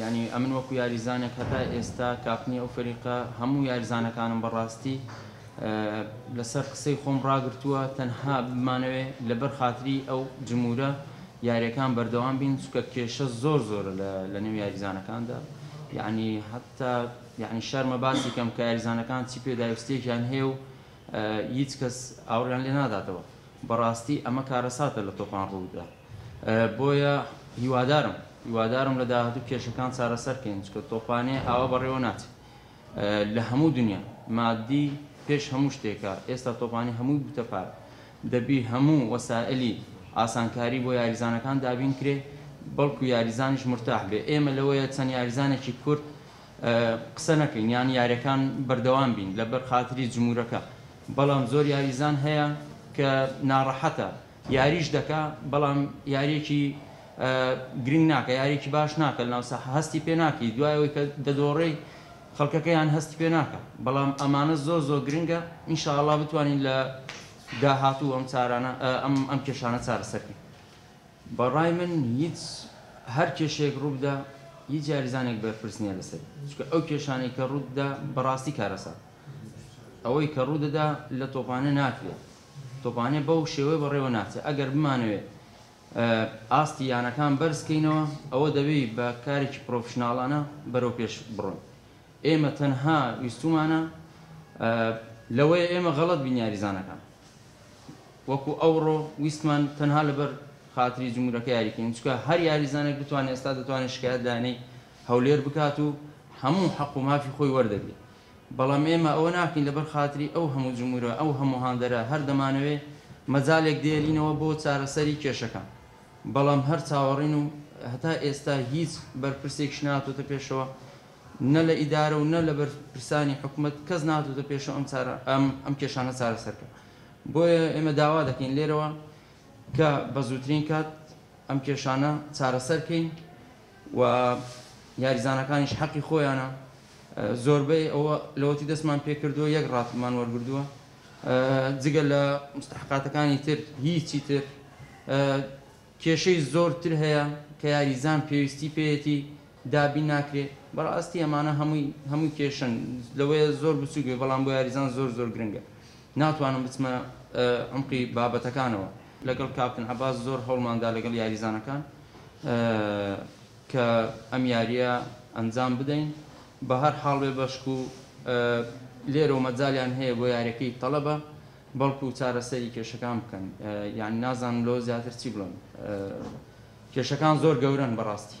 یانی ئەمن وەکو یاریزانێک هەتا ئێستا کاپتنی ئەو فەریقە هەموو یاریزانەکانم بەڕاستی لەسەر قسەی خۆم ڕاگرتووە تەنها بمانەوێ لەبەر خاتری ئەو جمورە یاریەکان بەردەوام بین چکە کێشە زۆر زۆرە لە نێو یاریزانەکاندا یعنی حتا یعنی شەرمە باسی کەم کە یاریزانەکان چی پێداویستێکیان هەیە و هیچ کەس ئاوڕیان لێ ناداتەوە بەڕاستی ئەمە کارەساتە لە تۆپان ڕوودا بۆیە هیوادارم هیوادارم لە داهاتوو کێشەکان چارەسەر کەین چکە تۆپانێ ئاوا بەڕێوە ناچێ لە هەموو دنیا مادی پێش هەموو شتێکە ئێستا تۆپانی هەمووی بوتە پارە دەبی هەموو وەسائلی ئاسانکاری بۆ یاریزانەکان دابین کرێ بەڵکو یاریزانیش مرتاح بێ ئێمە لەوەیە چەند یاریزانێکی کورد قسە نەکەین یان یاریەکان بەردەوام بین لەبەر خاتری جمورەکە بەڵام زۆر یاریزان هەیە کە ناڕەحەتە یاریش دەکا بەڵام یاریەکی گرنگ ناکە یاریەکی باش ناکە لەناو ساحە هەستی پێ ناکەی دوای ئەوەی کە دەدۆڕێی خەڵکەکەیان هەستی پێ ناکە بەڵام ئەمانە زۆر زۆر گرنگە ان شاء اللە بتوانین لە داهاتوو ئەم چارانە ئەم ئەم کێشانە چارەسەرکەین بەڕای من هیچ هەر کێشەیەک ڕووبدا هیچ یاریزانێک بەرپرس نییە لەسەری چونکە ئەو کێشانەی کە ڕووتدا بەڕاستی کارەسات ئەوەی کە ڕوودەدا لە تۆپانێ ناکرێت تۆپانێ بەو شێوەیە بەڕێوە ناچێت، ئەگەر بمانەوێت ئاستی یانەکان بەرز بکەینەوە، ئەوە دەبێت بە کارێکی پرۆفشناڵانە بەرەوپێش بڕۆین، ئێمە تەنها ویستومانە لەوەیە ئێمە غەڵەت بین یاریزانەکان وەکو ئەوڕۆ ویستمان تەنها لەبەر خاتری جمهورەکە یاری بکەین، چونکە هەر یاریزانێک بتوانێت ئێستا دەتوانێت شکایەت لایەنەی هەولێر بکات و هەموو حەق و مافی خۆی وەردەگرێت. بەڵام ئێمە ئەوە ناکەین لەبەر خاتری ئەو هەموو جموورە، ئەو هەموو هاندەرە، هەر دەمانەوێ مەجالێک دێلینەوە بۆ چارەسەری کێشەکە، بەڵام هەر چاوەڕێن و هەتا ئێستا هیچ بەرپرسێکیش نەهاتۆتە پێشەوە نە لە ئیدارە و نە لە بەرپرسانی حکومەت کەس نەهاتۆتە پێشەوە ئەم چارە ئەم کێشانە چارەسەر بکا بۆیە ئێمە داوا دەکەین لێرەوە کە بە زووترین کات ئەم کێشانە چارەسەر کەین و یاریزانەکانیش حەقی خۆیانە زۆربەی ئەوە لەوەتی دەستمان پێکردووە یەک ڕاتبمان وەرگردووە جگە لە مستحقاتەکانی تر هیچی تر کێشەی زۆرتر هەیە کە یاریزان پێویستی پێیەتی دابین ناکرێ بەڕاستی ئەمانە هەمووی هەمووی کێشەن لەوەیە زۆر بچووک بێ بەڵام بۆ یاریزان زۆر زۆر گرنگە ناتوانم بچمە عمقی بابەتەکانەوە لەگەڵ کاپتن عەباس زۆر هەوڵمان دا لەگەڵ یاریزانەکان کە ئەم یاریە ئەنجام بدەین بەهەر حاڵ بێ بەشکو لێرەوە مەجالیان هەیە بۆ یارەکەی تەڵەبە بەڵکو چارەسەری کێشەکان بکەن یانی نازانم لەوە زیاتر چی بڵێم کێشەکان زۆر گەورەن بەڕاستی.